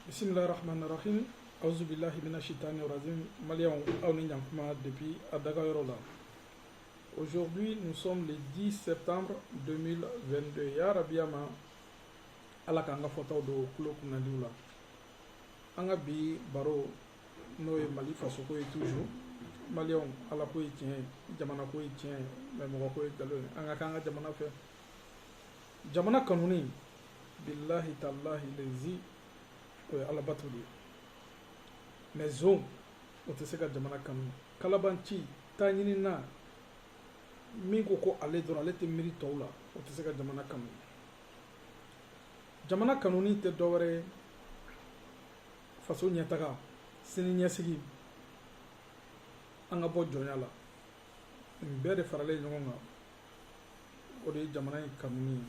bisimilahi rahmaani rahim awuzubilahi mina shitani razim maliyɛnw aw ni ɲankuma depuis a dagayɔrɔ la aujourd'hui nous sommes le 10 septembre 2022 ya rabiya ma ala k'an ka fɔtaw don kulo kunnadiw la an ka bi baro n'o ye mali fasoko ye toujours maliyɛnw ala ko ye tiɲɛ jamana ko ye tiɲɛ mais mɔgɔ ko ye nkalon ye an ka k'an ka jamana fɛ jamana kanuni bilahi talahi lezi o ye alabato de ye mais zon o tɛ se ka jamana kanu kalabanci taɲinina min ko ko ale dɔrɔn ale tɛ miiri tɔw la o tɛ se ka jamana kanu jamana kanuni tɛ dɔwɛrɛ ye faso ɲɛtaga sini ɲɛsigi an ka bɔ jɔnya la nin bɛɛ de faralen ɲɔgɔn kan o de ye jamana in kanuni ye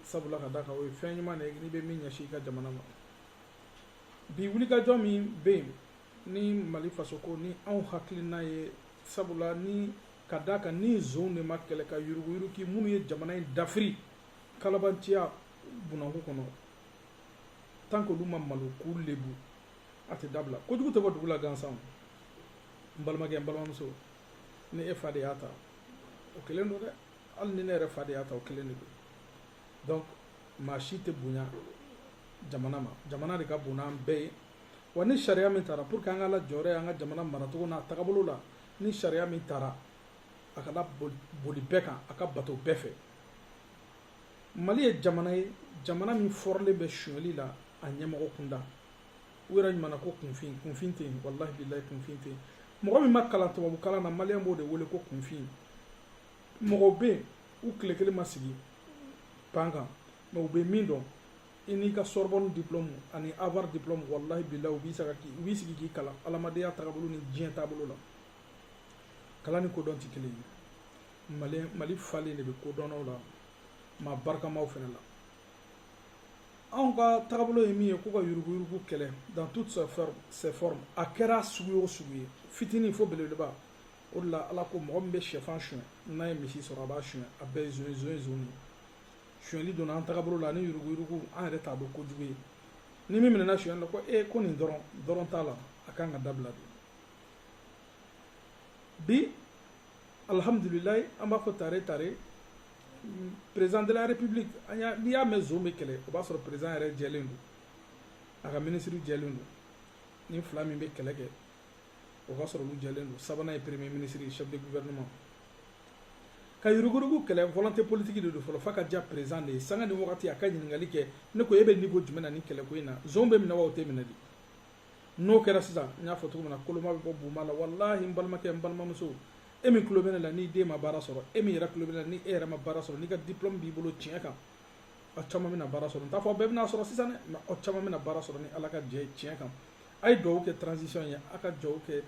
sabula ka da kan o ye fɛn ɲuman de ye n'i bɛ min ɲɛsin i ka jamana ma bi wulikajɔ min bɛ yen ni mali fasoko ni anw hakilina ye sabula ni ka da kan ni zon de ma kɛlɛ ka yuruguyuruki minnu ye jamana in dafiri kalabanciya bunanku kɔnɔ tant que olu ma malo k'u lebu a tɛ dabila kojugu tɛ bɔ dugu la gansan n balimakɛ n balimamuso ni e fa de y'a ta o kelen don dɛ hali ni ne yɛrɛ fa de y'a ta o kelen de don donc maa si tɛ bonya jamana ma jamana de ka bon n'an bɛɛ ye wa ni sariya min taara pour que an ka améliorer an ka jamana maracogo n'a tagabolo la ni sariya min taara a ka laboli bɛɛ kan a ka bato bɛɛ fɛ mali ye jamana ye jamana min fɔrɔlen bɛ suɲɛli la a ɲɛmɔgɔ kunda u yɛrɛ ɲuman na ko kunfin kunfin tɛ yen walahi bilayi kunfin tɛ yen mɔgɔ min ma kalan tubabu kalan na maliyɛn b'o de wele ko kunfin mɔgɔw bɛ yen u tile kelen ma sigi banc kan mais u bɛ min dɔn i n'i ka sorbonne diplôme ani harvard diplôme walahi bilayi u b'i saga k'i u b'i sigi k'i kalan adamadenya tagabolo ni diɲɛ taabolo la kalan ni kodɔn tɛ kelen ye mali mali falen de bɛ kodɔnnaw la maa barikamaw fana la anw ka tagabolo ye min ye ko ka yuruguyurugu kɛlɛ dans toutes ses formes a kɛra sugu o sugu ye fitinin fo belebeleba o de la ala ko mɔgɔ min bɛ sɛfan suɲɛ n'a ye misi sɔrɔ a b'a suɲɛ a bɛɛ ye zon ye zon ye zon ye suɲɛli donna an tagabolo la ani yuruguyurugu an yɛrɛ t'a dɔn kojugu ye ni min minɛna suɲɛli la ko ee ko nin dɔrɔn dɔrɔn t'a la a kan ka dabila de bi alihamdulilayi an b'a fɔ tare tare président de la république an y'a n'i y'a mɛn zon bɛ kɛlɛ o b'a sɔrɔ président yɛrɛ jɛlen don a ka minisiriw jɛlen don ni fila min bɛ kɛlɛ kɛ o ka sɔrɔ olu jɛlen don sabanan ye premier ministre ye chef de gouvernement ka yuruguyurugu kɛlɛ volonté politique de don fɔlɔ f'a ka diya président de ye sanga ni wagati a ka ɲininkali kɛ ne ko e bɛ niveau jumɛn na nin kɛlɛko in na zon bɛ minɛ wa o tɛ minɛ de n'o kɛra sisan n y'a fɔ cogo min na koloma bɛ bɔ buma la walahi n balimakɛ n balimamuso e min tulo bɛ ne la n'i den ma baara sɔrɔ e min yɛrɛ tulo bɛ ne la ni e yɛrɛ ma baara sɔrɔ n'i ka diplôme b'i bolo tiɲɛ kan aw caman bɛna baara sɔrɔ n t'a fɔ bɛɛ bɛna sɔrɔ sisan dɛ mais aw caman bɛna baara sɔrɔ ni ala ka jɛ ye tiɲɛ kan a ye duwawu kɛ transition ye a ka duwawu kɛ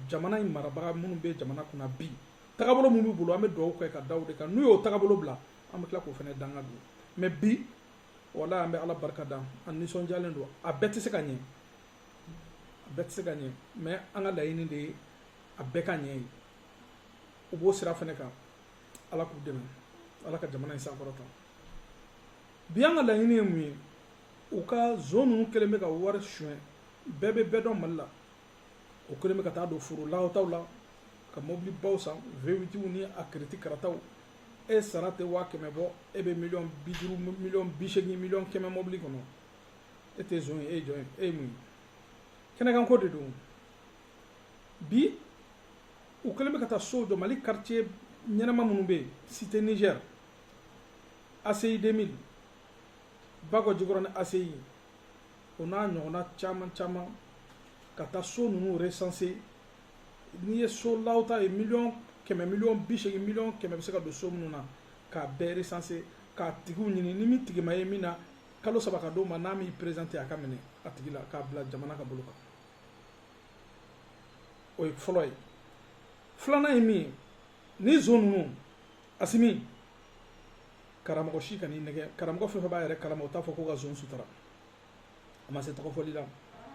jamana in marabaga minnu bɛ jamana kunna bi tagabolo min b'u bolo an bɛ duwawu kɛ ka da o de kan n'u y'o tagabolo bila an bɛ tila k'o fana danga don mais bi walahi an bɛ ala barika da an nisɔndiyalen don a bɛɛ tɛ se ka ɲɛ a bɛɛ tɛ se ka ɲɛ mais an ka laɲini de ye a bɛɛ ka ɲɛ ye u b'o sira fana kan ala k'u dɛmɛ ala ka jamana in sankɔrɔta bi an ka laɲini ye mun ye u ka zon ninnu kɛlen bɛ ka wari suɲɛ bɛɛ bɛ bɛɛ dɔn mali la o kɛlen bɛ ka taa don foro lahataw la ka mobili baw san v8w ni a kiriti karataw e sara tɛ waa kɛmɛ bɔ e bɛ miliyɔn bi duuru miliyɔn bi seegin miliyɔn kɛmɛ mobili kɔnɔ e tɛ zon ye e ye jɔn ye e ye mun ye kɛnɛkanko de don bi u kɛlen bɛ ka taa sow jɔ mali quartier ɲɛnama minnu bɛ yen cité niger aci 2000 bakɔ jikɔrɔni aci o n'a ɲɔgɔnna caman caman ka taa so ninnu recenser n'i ye so law ta ye miliyɔn kɛmɛ miliyɔn bi seegin miliyɔn kɛmɛ bɛ se ka don so minnu na k'a bɛɛ recenser k'a tigiw ɲini ni min tigi ma ye min na kalo saba ka d'o ma n'a m'i présenter a ka minɛ a tigi la k'a bila jamana ka bolo kan o ye fɔlɔ ye filanan ye min ye ni zon ninnu asimi karamɔgɔ si kan'i nɛgɛn karamɔgɔ fɛn fɛn b'a yɛrɛ kalama o t'a fɔ ko ka zon sutura a ma se tɔgɔfɔli la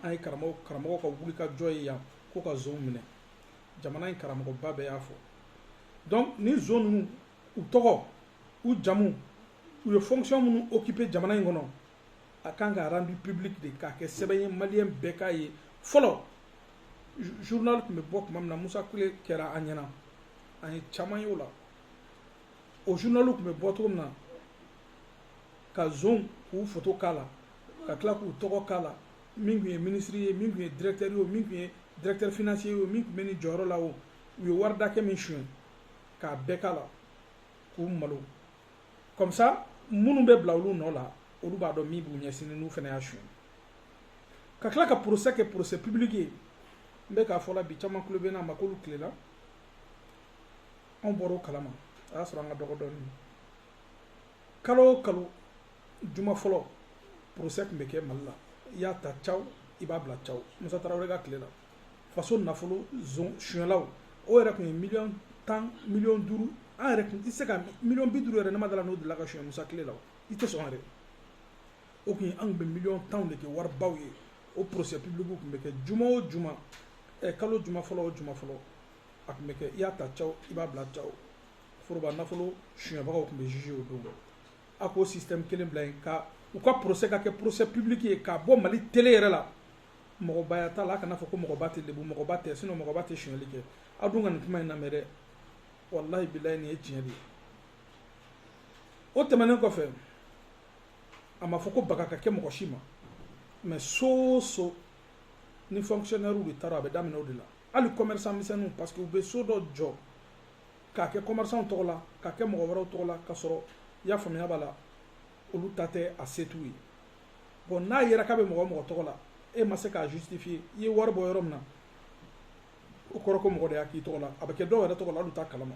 an ye karamɔgɔ karamɔgɔ ka wulikajɔ ye yan ko ka zon minɛ jamana in karamɔgɔba bɛɛ y'a fɔ donc ni zon ninnu u tɔgɔ u jamu u ye fonction minnu occuper jamana in kɔnɔ a kan ka rendu public de k'a kɛ sɛbɛn ye maliyɛn bɛɛ k'a ye fɔlɔ journal tun bɛ bɔ tuma min na musa tile kɛra an ɲɛna an ye caman ye o la o journal tun bɛ bɔ cogo min na ka zon k'u foto k'a la ka tila k'u tɔgɔ k'a la min tun ye minisiri ye min tun ye directeur ye o min tun ye directeur financier ye o min tun bɛ nin jɔyɔrɔ la o u ye wari dakɛ min suɲɛ k'a bɛɛ k'a la k'u malo comme ça minnu bɛ bila olu nɔ la olu b'a dɔn min b'u ɲɛsini n'u fana y'a suɲɛ ka tila ka procès kɛ procès public ye n bɛ k'a fɔ la bi caman tulo bɛ n'a ma k'olu tile la anw bɔra o kalama a y'a sɔrɔ an ka dɔgɔ dɔɔnin kalo o kalo juma fɔlɔ procès tun bɛ kɛ mali la i y'a ta caw i b'a bila caw musa tarawele ka tile la faso nafolo zon sonyɛlaw o yɛrɛ tun ye miliyɔn tan miliyɔn duuru an yɛrɛ tun tɛ se ka miliyɔn bi duuru yɛrɛ ne ma d'a la n'o delila ka sonyɛ musa tile la i tɛ sɔn yɛrɛ o tun ye an tun bɛ miliyɔn tanw de kɛ waribaw ye o procès public tun bɛ kɛ juma o juma ɛ kalo juma fɔlɔ o juma fɔlɔ a tun bɛ kɛ i y'a ta caw i b'a bila caw foroba nafolo suyɛnbagaw tun bɛ juger o don a k'o système kelen bila yen ka u ka procès ka kɛ procès public ye k'a bɔ Mali télé yɛrɛ la mɔgɔbaya t'a la a kana fɔ ko mɔgɔba tɛ lebu mɔgɔba tɛ sinon mɔgɔba tɛ suyɛnli kɛ aw dun ka nin kuma in lamɛn dɛ walahi bilahi nin ye tiɲɛ de ye o tɛmɛnen kɔfɛ a ma fɔ ko baga ka kɛ mɔgɔ si ma mais so o so ni fonctionnaire de taara a bɛ daminɛ o de la hali commerçant misɛnninw parce que u bɛ so dɔ jɔ k'a kɛ kɔmɛrisanw tɔgɔ la k'a kɛ mɔgɔ wɛrɛw tɔgɔ la k'a sɔrɔ i y'a faamuya b'a la olu ta tɛ a se t'u ye bon n'a yera k'a bɛ mɔgɔ o mɔgɔ tɔgɔ la e ma se k'a justifiye i ye wari bɔ yɔrɔ min na o kɔrɔ ko mɔgɔ de y'a k'i tɔgɔ la a bɛ kɛ dɔw yɛrɛ tɔgɔ la olu t'a kalama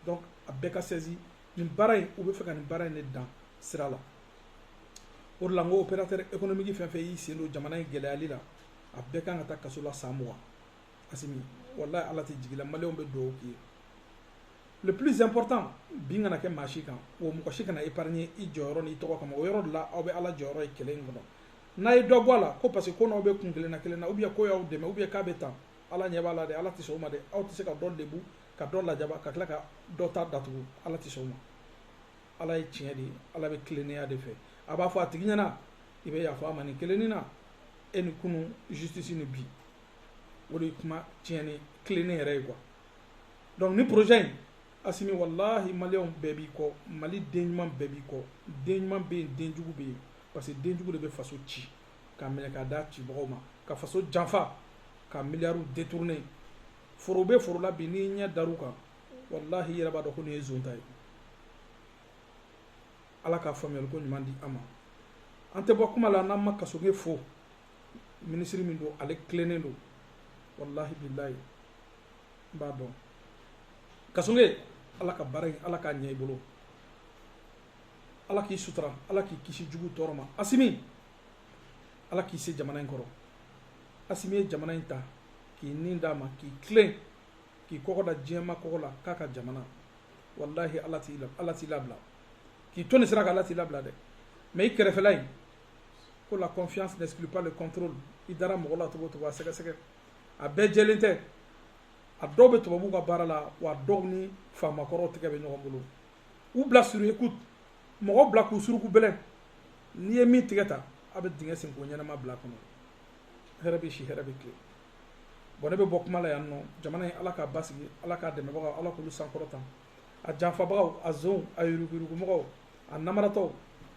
donc a bɛɛ ka sɛzi nin baara in u bɛ fɛ ka nin baara in de dan sira la o de la n ko opérateur économique fɛn fɛn y'i sen don jamana in gɛlɛyali la a bɛɛ kan ka taa kaso la san mugan asimi wallahi ala tɛ jigila maliyɛnw bɛ dugawu k'i ye le plus important bin kana kɛ maa si kan wa mɔgɔ si kana épargner i jɔyɔrɔ n'i tɔgɔ kama o yɔrɔ de la aw bɛ ala jɔyɔrɔ ye kɛlɛ in kɔnɔ n'a ye dɔ bɔ a la ko parce que k'o n'aw bɛ kun kelen na kelen na ou bien k'o y'aw dɛmɛ ou bien k'a bɛ tan ala ɲɛ b'a la dɛ ala tɛ sɔn o ma dɛ aw tɛ se ka dɔ lebu ka dɔ lajaba ka tila ka dɔ ta datugu ala tɛ sɔn o ma ala ye tiɲɛ de ye ala bɛ tilennenya de fɛ a b'a fɔ a tigi ɲɛna i bɛ yafa a ma nin kelenni na e ni kunu justice ni bi o de ye kuma tiɲɛ ni tilennen yɛrɛ ye quoi donc nin projet in asimi walahi maliyɛnw bɛɛ b'i kɔ mali den ɲuman bɛɛ b'i kɔ den ɲuman bɛ yen den jugu bɛ yen parce que den jugu de bɛ faso ci k'a minɛ k'a d'a cibagaw ma ka faso janfa ka miliyariw détourner foro bɛ foro la bi n'i ɲɛ dar'u kan walahi i yɛrɛ b'a dɔn ko nin ye zon ta ye ala k'a faamuyali ko ɲuman di an ma an tɛ bɔ kuma la n'an ma kasoge fo minisiri min don ale tilennen don walahi bilayi n b'a dɔn kasoge ala ka baara in ala k'a ɲɛ i bolo ala k'i sutura ala k'i kisi jugu tɔɔrɔ ma asimi ala k'i se jamana in kɔrɔ asimi ye jamana in ta k'i nin d'a ma k'i tilen k'i kɔgɔ da diɲɛ maa kɔgɔ la k'a ka jamana walahi ala t'i labila k'i to nin sira kan ala t'i labila dɛ mais i kɛrɛfɛla in ko la confiance n'exclut pas le contrôle i dara mɔgɔ la cogo o cogo a sɛgɛsɛgɛ a bɛɛ jɛlen tɛ a dɔw bɛ tubabuw ka baara la wa dɔw ni faamakɔrɔw tɛgɛ bɛ ɲɔgɔn bolo u bila sur écoute mɔgɔ bila k'u suruku bɛlɛn n'i ye min tigɛ ta a bɛ dingɛ sen k'o ɲɛnama bil'a kɔnɔ hɛrɛ bɛ si hɛrɛ bɛ tilen bon ne bɛ bɔ kuma la yan nɔ jamana in ala k'a basigi ala k'a dɛmɛbagaw ala k'olu sankɔrɔta a janfabagaw a zonw a yuruguyurugumɔgɔw a namaratɔw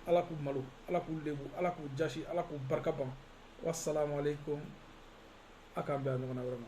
ala k'u malo ala k'u lebu ala k'u jasi ala k'u barika ban wasalamu aleykum a k'an bɛn a ɲɔgɔnna wɛrɛ ma